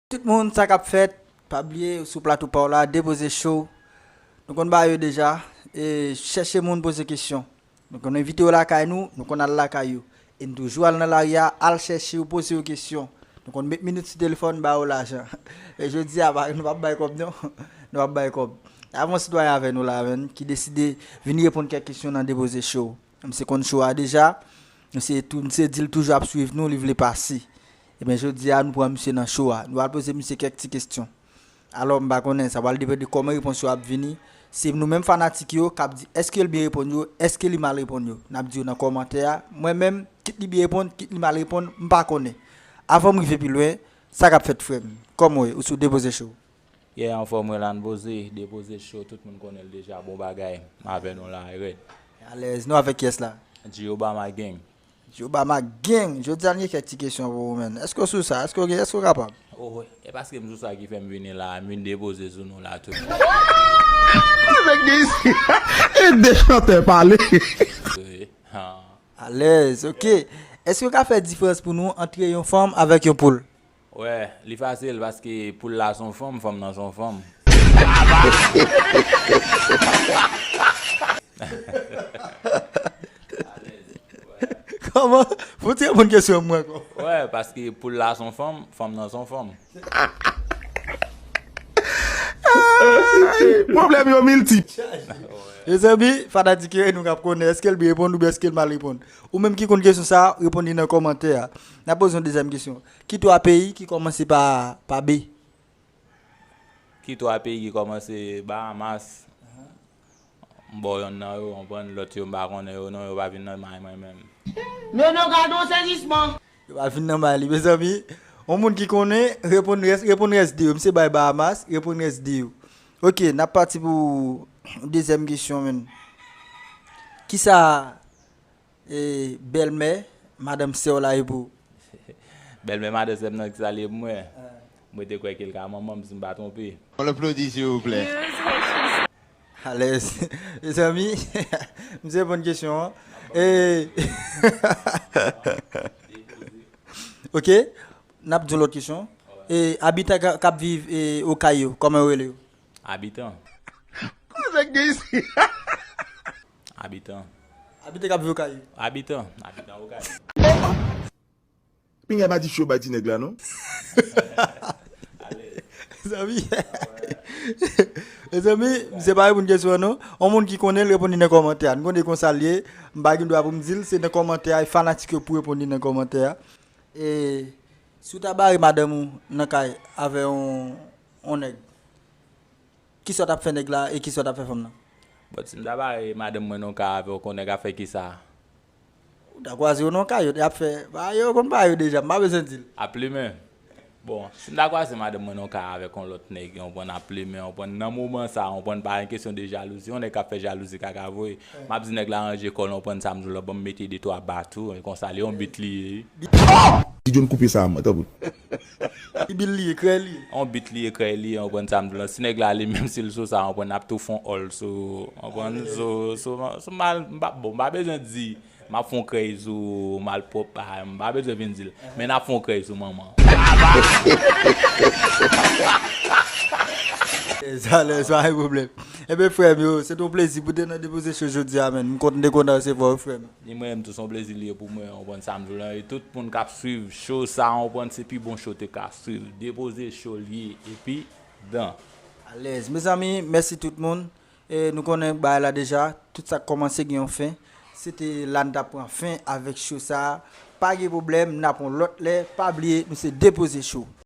Tout moun sa kap fèt pa bliye ou sou plato paw la depoze show nou konn ba yo deja e chèche moun poze kesyon nou konn envite yo lakay nou nou konn al lakay yo E n toujou al nan lari a, al chèche yo, poze yo kesyon. Nou konn met minit sou telefòn, ba yo lajan. Men jodi a, nou pa p bay kòb non. Nou pa p bay kòb. N ap gen yon sitwayen avè nou la menn ki deside vin reponn kèk kesyon nan Depoze Show. Misye konn show a deja. Misye tou, misye di l toujou ap swiv nou, li vle pase. Enben jodi a, nou pran misye nan show a. Nou al poze misye kèk ti kesyon. Alò m pa konnen, sa pral depann de kòman repons yo ap vini. Se nou menm fanatik yo k ap di èske l byen reponn yo, èske li mal reponn yo. N ap di yo nan kòmantè a. Mwen menm, kit li byen reponn, kit li mal reponn, m pa konnen. Avan m rive pi lwen, sa k ap fèt frè m? Kòman w ye? Ou sou Depoze Show? Yeah, anfòm mwen la Npoze, Depoze Show, tout moun konnen l deja, bon bagay. M avè nou la, Rèd. Alèz. Nou avèk kiyès la? G-Obama Gang. Di Obama Gang! Jodi a n gen kèk ti kesyon pou ou menn. Èske w sou sa? Èske w gen? Èske w kapab? Oh, e paske m sou sa ki fè m vini la a, m vin depoze sou nou la tout bon. Avèk de isi ha! E de chantè pale! Wi, han. Alèz, ok. Èske w ka fè diferans pou nou antre yon fanm avèk yon poul? Wè li fasil paske poul la son fanm fanm nan son fanm. Kòman pou ti reponn kesyon an mwen ankò. Wè paske poul la son fanm fanm nan son fanm. Pwoblèm yo miltip. Mezanmi fada di ke nou kap konnen eskel byen reponn oubyen eskel mal reponn. Ou menm ki konn kesyon sa reponn li nan kòmantè a. Nap poze yon dezyèm kesyon. Ki twa peyi ki kòmanse pa B? Ki twa peyi ki kòmanse Bahamas? M ba w yonn nan yo, konprann, lòt yo m pa konnen yo non, yo pa vin nan may mwen menm. Non non gad yon sezisman! Yo pa vin nan may li. Mezanmi, yon moun ki konnen, reponn rès, reponn rès 2 yo. Misye bay Bahamas, reponn rès 2 yo. Ok, n ap pati pou dezyèm kesyon men. Kisa. E bèlmè madanm sèw la epou. Bèlmè madan sèm nan ki salye pou mwen. Mwen te kwè ke l ka manmanm si m pa twonpe. On applaudit s'il vous plait. Alèz mezanmi misye reponn kesyon an ok nap di yon lòt kesyon abitan kap viv okay yo kòman yo rele yo abitan. Koze k gen isi. Abitan. Abite k ap viv Okay. Abitan. Abitan Okay. Pinga pa di fio bay ti neg la non. Mezanmi Mezanmi misye pa reponn kesyon an non on moun ki konnen l reponn li nan kòmantè a nou konnen konsal ye m pa gen dwa pou m di l se nan kòmantè a e fanatik yo pou reponn li nan kòmantè a e si w ta bare madanm ou nan kay avè on nèg. Kisa w tap fè nèg la e kisa w tap fè fanm nan? Bon si m ta bare madanm mwen nan yon ka avè w konnen nèg ap fè kisa? Ou ta kwaze yo nan yon kayot e ap fè, ba yo konn ba yo deja m pa bezwen di l. Ap plimen. Bon, si m ta kwaze madanm mwen nan yon ka avèk yon lòt nèg yon konprann ap plimen yon konprann nan moman sa yon konprann pa gen kesyon de jalouzi yon nèg kap fè jalouzi kaka vwe m ap di nèg la ranje kò l yon konprann sa m di w la ban m mete de twa ba tou e konsa l yon bit li ye wi. Di John koupe sa a mwen tanpri. Ki bil li ye krèy li ye. On bit li ye krèy li ye anprann sa m di w lan si nèg la ale menm si l sou sa anprann ap tou fon òl sou anprann sou mal m pa bon m pa bezwen di m ap fon krèy sou malpwòp pa m pa bezwen vin di l men n ap fon krèy sou manman Sa alèz pa gen pwoblèm. Enben frè m yo, se te yon plezi pou te nan Depoze Show jodi a menn. M kontn te kontan resevwa ou frè m. Ni mwen menm tou son plezi liye pou mwen ou konprann sam vle lan e tout moun kap swiv show sa ou konprann se pi bon show te ka swiv depoze show liye epi dan. Alèz mezanmi mèsi tout moun e nou konnen bagay la deja tout sak kòmanse gen yon fen se te la nou tap pran fen avèk show sa pa gen problèm na pran lòt lè pa bliye nou se depoze show.